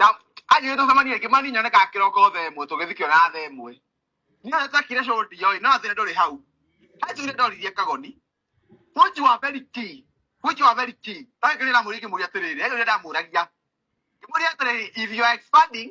Na anjĩrĩte tũcemanie rĩngĩ mani nyone kana kĩroko thaa ĩmwe tũgĩthikio na thaa ĩmwe nĩyo takire cũndi yoĩ no thĩna ndũrĩ hau hanjugire ndoririe kagoni Fuji wa very key. Fuji wa very key. Ndagĩkĩrĩra mũrĩa ingĩmũria atĩrĩrĩ, he ũrĩa ndamũragia. Ngĩmũria atĩrĩrĩ, if you are expanding,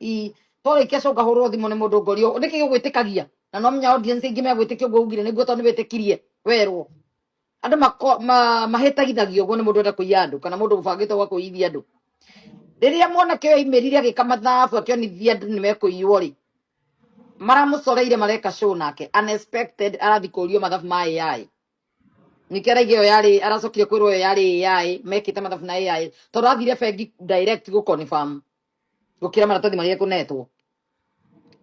i tore kia coka hurwo thimu ni mundu ngorio niki gigwitikagia na no menya audience ingi megwitikia uguo ugire niguo tondu niwitikirie werwo andu mako- ma- mahitagithagio uguo ni mundu enda kuiya andu kana mundu ubangite gwa kuiyithia andu riria mwanake uyu aimirire agika mathabu akionithia andu nimekuiywo ri maramucoreire mareka show nake unexpected arathi kurio mathabu ma AI nĩkĩo araiga ĩyo yarĩ aracokire kwĩrwo ĩyo yarĩ AI mekĩte mathabu na AI tondũ athire bengi direct gũ confirm gukira maratathi maria kunetwo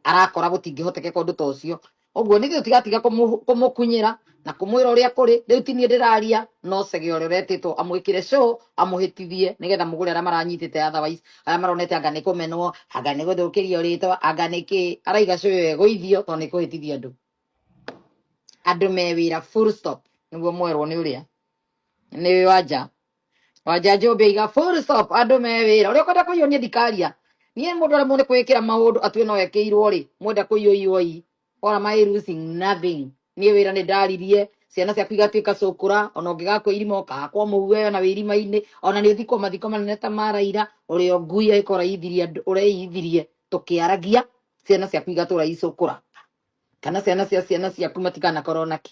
arakora gutingihoteke kondu ta ucio uguo nithe utigatiga kumukunyira na kumwira uria kuri riu tinie ndiraria no cege uria uretitwo amwikire show amuhitithie nigetha mugure aria maranyitite otherwise aria maronete anga ni kumenwo anga ni guthukirio ritwa anga ni ki araiga show iyo iguithio to ni kuhitithia andu andu me wira full stop niguo mwerwo ni uria ni wanja Wanja njũmbĩ iga full stop andũ me wĩra ũrĩa ũkwenda kũiywo niĩ ndikaria niĩ mũndũ aremwo nĩ kwĩkĩra maũndũ atue no ekĩirwo rĩ mwenda kũiywo iwoi or am I losing nothing niĩ wĩra nĩ ndaririe ciana ciaku igatuĩka cũkũra ona ũngĩgakua irima ũkahakwo mũhu wewe na wĩ irima-inĩ ona nĩ ũthikwo mathiko manene ta ma Raila ũrĩa ngui agĩkorwo ũreyithirie andũ- ũreyithirie tũkĩaragia ciana ciaku igatũra icũkũra kana ciana cia ciana ciaku matikanakorwo naki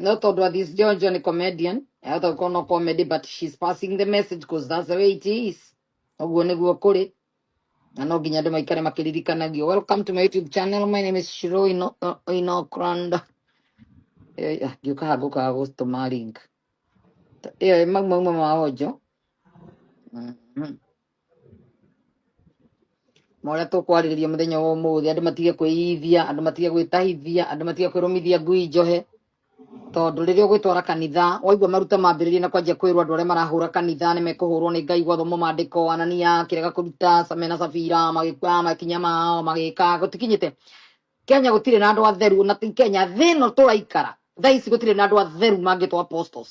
No thought what this John John a comedian. I thought no comedy, but she's passing the message because that's the way it is. Oguo nĩguo kũrĩ. Na no nginya andũ maikare makĩririkanagio. Welcome to my YouTube channel. My name is Shiro Ino- uh, Inokrand. Eh, ah, Ngĩũka haha ngũkaga gũtũma link. Ĩyo ĩ mau mauma ma onjo. Mhm. na ũrĩa tũkwarĩrĩria mũthenya wa ũmũthĩ andũ matige kwĩyithia andũ matige gwĩtahithia andũ matige kwĩrũmithia ngui njohe tondũ rĩrĩa ũgwĩtwara kanitha waigua maruta mambĩrĩria na kwanjia kwĩrwo andũ arĩa marahũra kanitha nĩ mekũhũrwo nĩ ngai gwathomwo maandĩko anania kĩrega kũruta mena sabira magĩkua makinya mao magĩka gũtikinyĩte kenya gũtirĩ na andũ atheru na ti kenya thĩ ĩno tũraikara thaa ici gũtirĩ na andũ atheru mangĩtwo apostles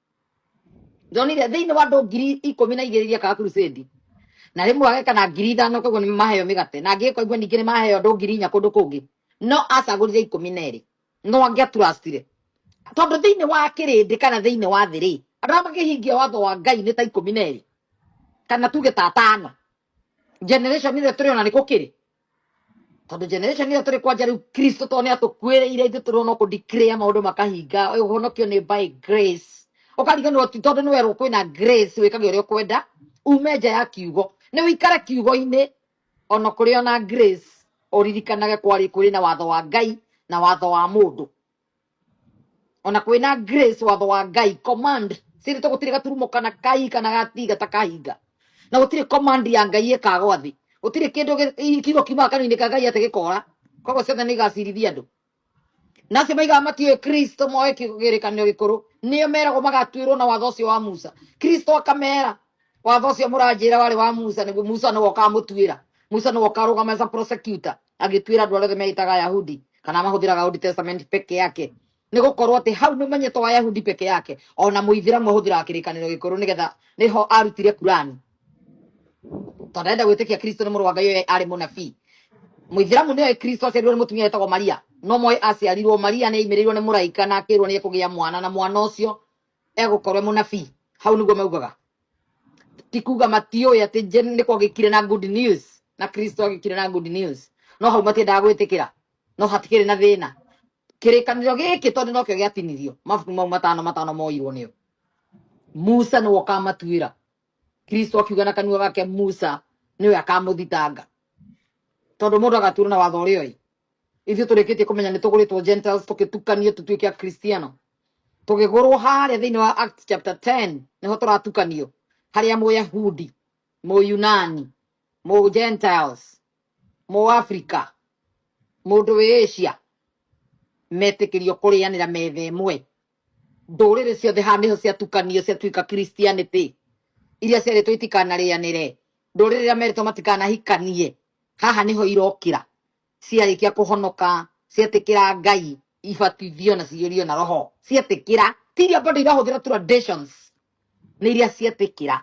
ndonire thĩinĩ wa andũ ngiri ikũmi na igĩrĩ igĩka crusade na rĩmwe ageka na ngiri ithano koguo nĩ maheo mĩgate na angĩgĩka ũguo ningĩ nĩ maheo andũ ngiri inya kũndũ kũngĩ no acagũrire ikũmi na erĩ no angĩaturacitire tondũ thĩinĩ wa kĩrĩndĩ kana thĩinĩ wa thĩ rĩ andũ arĩa makĩhingia watho wa ngai nĩ ta ikũmi na erĩ kana tuge ta atano generation ĩrĩa tũrĩ ona nĩ gũkĩrĩ tondũ generation ĩyo tũrĩ kwanja rĩu kristo to nĩ atũkuĩrĩire ithuĩ tũrĩ ona kũ declare maũndũ makahinga ũhonokio nĩ by grace ũkariganĩrwo ti tondũ nĩ werwo kwĩna grace wĩkage ũrĩa ũkwenda ume nja ya kiugo nĩ ũikare kiugo-inĩ ona kũrĩ ona grace ũririkanage kwarĩ kũrĩ na watho wa ngai na watho wa mũndũ ona kwina grace watho wa ngai command siri to gutire gaturumo kana kai kana gatiga ta kahinga na gutire command ya ngai ikagwa thi gutire kindu kiugo kiumaga kanini ka ngai ati gikora koguo ciothe nä igacirithia andå na acio maigaga matiå kristo moe kä rä kanä gä kå rå nä o meragwo magatuä rwo na watho å cio wa musa kristo akamera watho ũcio mũranjĩra warĩ wa musa nĩguo musa nĩwe ũkamũtuĩra musa nĩwe ũkarũgama as a prosecutor agĩtuĩra andũ arĩa othe meĩtaga ayahudi kana mahũthĩraga old testament peke yake nĩ gũkorwo atĩ hau nĩ ũmenyetwo wa yahudi peke yake ona mũithiramu ahũthĩraga kĩrĩkanĩro gĩkũrũ nĩgetha nĩho arutire kurani tondũ arenda gwĩtĩkia kristo nĩ mũrũ wa ngai ũyũ arĩ mũnabii mũithiramu nĩoĩ kristo aciarirwo nĩ mũtumia wĩtagwo maria no moĩ aciarirwo maria nĩ aimĩrĩirwo nĩ mũraika na akĩrwo nĩ ekũgĩa mwana na mwana ũcio egũkorwo e mũnabii hau nĩguo maugaga ti kuga matiũĩ atĩ nĩ kwagĩkire na good news na kristo agĩkire na good news no hau matiendaga gwĩtĩkĩra no hatikĩrĩ na thĩna kĩrĩkanĩro gĩkĩ tondũ nokĩo gĩatinirio mabuku mau matano matano moirwo nĩo musa nĩwe ũkamatuĩra kristo akiuga na kanua gake musa nĩwe akamũthitanga tondũ mũndũ agatuĩrwo na watho ũrĩa ũĩ ithuĩ tũrĩkĩtie kũmenya nĩ tũgũrĩtwo gentiles tũkĩtukanio tũtuĩke akristiano tũgĩgũrwo harĩa thĩinĩ wa act chapter 10 nĩho tũratukanio harĩa mũyahudi mũyunani mũ gentiles mũ africa mũndũ wĩ asia metĩkĩrio kũrĩanĩra metha ĩmwe ndũrĩrĩ ciothe haha nĩho ciatukanio ciatuĩka christianity iria ciarĩtwo itikanarĩanĩre ndũrĩrĩ iria merĩtwo matikanahikanie haha nĩho irokĩra ciarĩkia kũhonoka cietĩkĩra ngai ibatithio na ciyũrio na roho cietĩkĩra ti iria bado irahũthĩra traditions nĩ iria cietĩkĩra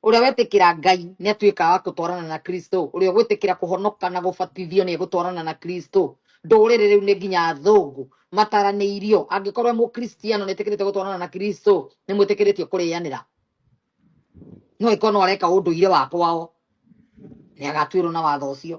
ũrĩa wetĩkĩra ngai nĩ atuĩkaga wa gũtwarana na kristo ũrĩa ũgwĩtĩkĩra kũhonoka na gũbatithio nĩ egũtwarana na kristo ndũrĩrĩ rĩu nĩ nginya athũngũ mataranĩirio angĩkorwo e mũkristiano nĩ ĩtĩkĩrĩte gũtwarana na kristo nĩ mwĩtĩkĩrĩtio kũrĩanĩra no ĩkorwo no areka ũndũire wa kwao nĩ agatuĩrwo na watho ũcio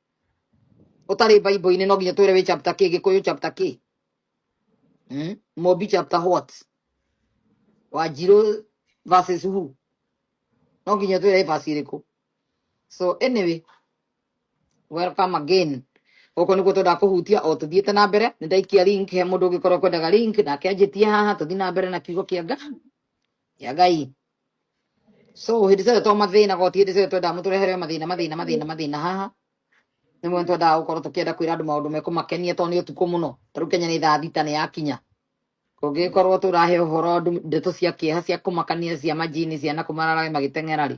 utarä baibå-inä no nginya twä re wä chapter kä gä kå yå chapter kä hmm? mobi chapter what wanjirå verses who no nginya twä re basi rä kå so anyway welcome again gũkũ nĩguo twendaga kũhutia o tũthiĩte na mbere nĩ ndaikia link he mũndũ ũngĩkorwo kwendaga link nake anjĩtie haha tũthiĩ na mbere na kiugo kĩa ngai kĩa ngai so hĩndĩ ciothe to mathĩna goti hĩndĩ ciothe twendaga mũtũrehere mathĩna mathĩna mathĩna mathĩna haha nĩ mwena twendaga gũkorwo tũkĩenda kwĩra andũ maũndũ mekũmakenia tondũ nĩ ũtukũ mũno ta rĩu kenya nĩ thaa thita nĩ yakinya kũngĩkorwo tũrahe ũhoro andũ ndeto cia kĩeha cia kũmakania cia majini ciana kũmararage magĩteng'era rĩ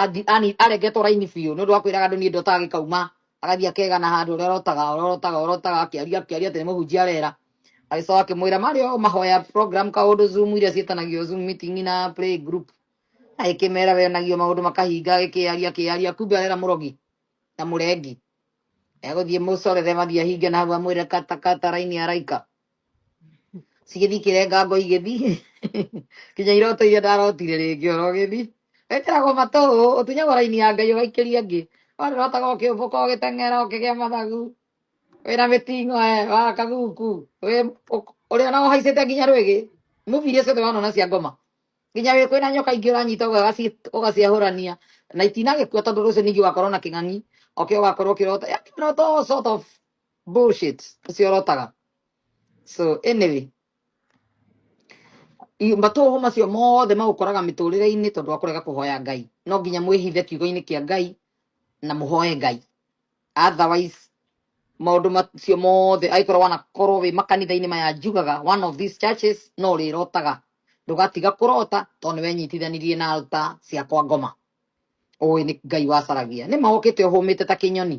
Angi- ani- aregetwo raini biũ nĩ ũndũ wa kwĩraga andũ niĩ ndotaga gĩkauma agathiĩ akegana handũ ũrĩa ũrotaga ũrĩa ũrotaga ũrĩa ũrotaga akĩaria akĩaria atĩ nĩ mũhunjia arera agĩcoka akĩmwĩra marĩ o mahoya program kaũndũ zoom iria ciĩtanagio zoom meeting na play group agĩkĩmera wenagio maũndũ makahinga agĩkĩaria akĩaria kumbe arera mũrogi na mũrengi egũthiĩ mũcorere mathiĩ ahinge na hau amwĩre katakata raini araika cigĩthiĩ kĩrenga ngo igĩthiĩ kinya iroto iria ndarotire rĩngĩ oro gĩthiĩ wekĩragwo matũ ũtunyagwo raini ya ngai ũgaikĩria angĩ warĩrotaga ũkĩũmbũka ũgĩteng'era ũkĩgĩa mathagu wĩna mĩting'o e wa kaguku wĩ- ũk- ũrĩa ona ũhaicĩte nginya rwĩgĩ mubi iria ciothe wanona cia ngoma nginya wĩ kwĩna nyoka ingĩ ũranyita ũgaci- ũgaciahũrania na itinagĩkua tondũ rũciũ ningĩ ũgakorwo na kĩng'ang'i okĩo ũgakorwo ũkĩrota yani ũrota all sort of bullshit kasi oro taga so anyway i- matũhũ macio mothe magũkoraga mĩtũrĩre-inĩ tondũ wa kũrega kũhoya ngai no nginya mwĩhithe kiugo-inĩ kĩa ngai na mũhoe ngai otherwise maũndũ macio mothe angĩkorwo wanakorwo wĩ makanitha-inĩ maya njugaga one of these churches no rĩrotaga ndũgatiga kũrota tondũ nĩwenyitithanirie na alta ciakwa ngoma ũĩ nĩ ngai wacaragia nĩ mahokĩte ũhũmĩte ta kĩnyoni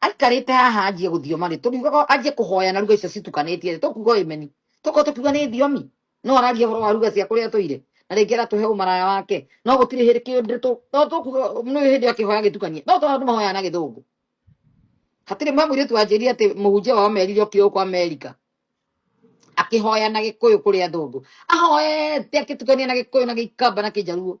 aikarite haha anjie guthioma ri turiugaga anjie kuhoya na ruga icio citukanitie ri tukuga imeni tuko tukiuga ni thiomi no aragia horo wa ruga cia kuria toire na ringi aratuhe umaraya wake no gutiri hiri kindu tu no tukuga no hindi akihoya gitukanie no tondu mahoya na githungu hatiri mwe mwiritu wanjirire ati muhunjia wao merire okire uko amerika akihoya na gikuyu kuri athungu ahoete akitukania na gikuyu na gikamba na kijaruo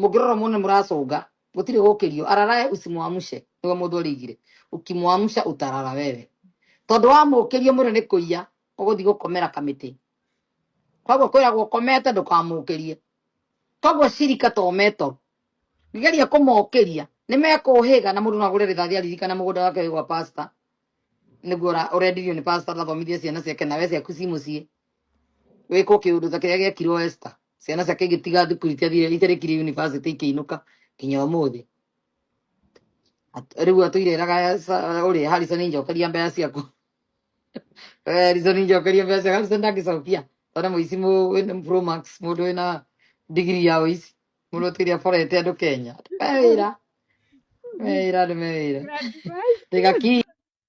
mũngĩrora muone mũracũnga mũtirĩ gũkĩrio ararae usimwamshe nĩwe mũndũ arĩigire ukimwamsha utarara wewe tondũ wamũkĩria mũndũ nĩ kũiya ũgũthiĩ gũkomera kamĩtĩ koguo kwĩragwo ũkomete ndũkamũkĩrie koguo cirika to meto ngeria kũmokĩria nĩ mekũhĩga na mũndũ no agũre rĩthathi aririkana mũgũnda wake wĩ gwa pasta nĩguo ũra- ũrendirio nĩ pasta athomithie ciana ciake nawe ciaku ci mũciĩ wĩkwo kĩũndũ ta kĩrĩa gĩekirwo Esther ciana ciake igĩtiga thukuru itiathire itarĩkire yunibacĩtĩ ikĩinũka nginya ũmũthĩ At- rĩu atũire eraga ũrĩa hariconi njokeria mbeca ciaku Eh, hariconi njokeria mbeca ciaku hariconi ndangĩcokia tondũ nĩ mũici mũ- wĩna pro max mũndũ wĩna ndigiri ya ũici mũndũ ũtũire aborete andũ kenya andũ me wĩra me wĩra andũ me wĩra Rĩga ki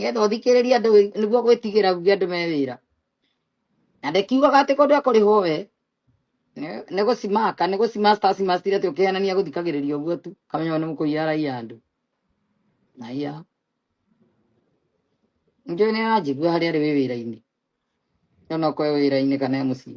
getha ũthikĩrĩrie andũ wĩ- nĩguo gwĩtigĩra uge andũ me wĩra na ndekiugaga atĩ kũndũ ekũrĩhwo we nĩ- nĩ gũcimaka nĩ gũcimasta acimastire atĩ ũkĩhenania gũthikagĩrĩria ũguo tu kamenya we nĩ mũkũiya raia andũ na iya njũĩ nĩ aranjigua harĩa arĩ wĩ wĩra-inĩ nona okorwo e wĩra-inĩ kana e mũciĩ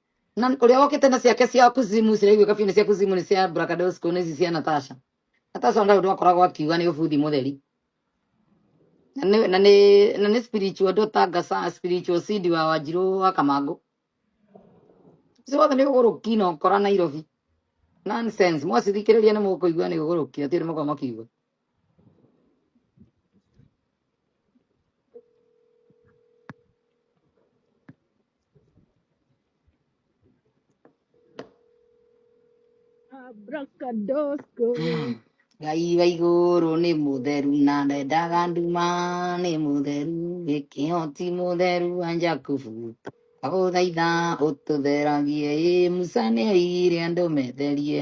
na ũrĩa wokĩte na ciake cia kuzimu ciraigua kabiũ nĩ cia kuzimu nĩ cia brakadosko nĩ ici cia natasha natasha ndarĩ ũndũ akoragwo akiuga nĩ ũbuthi mũtheri na nĩ na nĩ na nĩ spiritual daughter ngasa spiritual seed wa wanjirũ wa kamangũ ũcio wothe nĩ ũgũrũki na ũkora nairobi nonsense mwacithikĩrĩria nĩ mũkũigua nĩ ũgũrũki atĩ nĩ mũkorwo makiuga Abracadosco. Mm. ngai wa igũrũ nĩ mũtheru na ndendaga nduma nĩ mũtheru gĩkĩo ti mũtheru wa njakubu agũthaitha ũtũtheragie ĩ musa nĩ oigire andũ metherie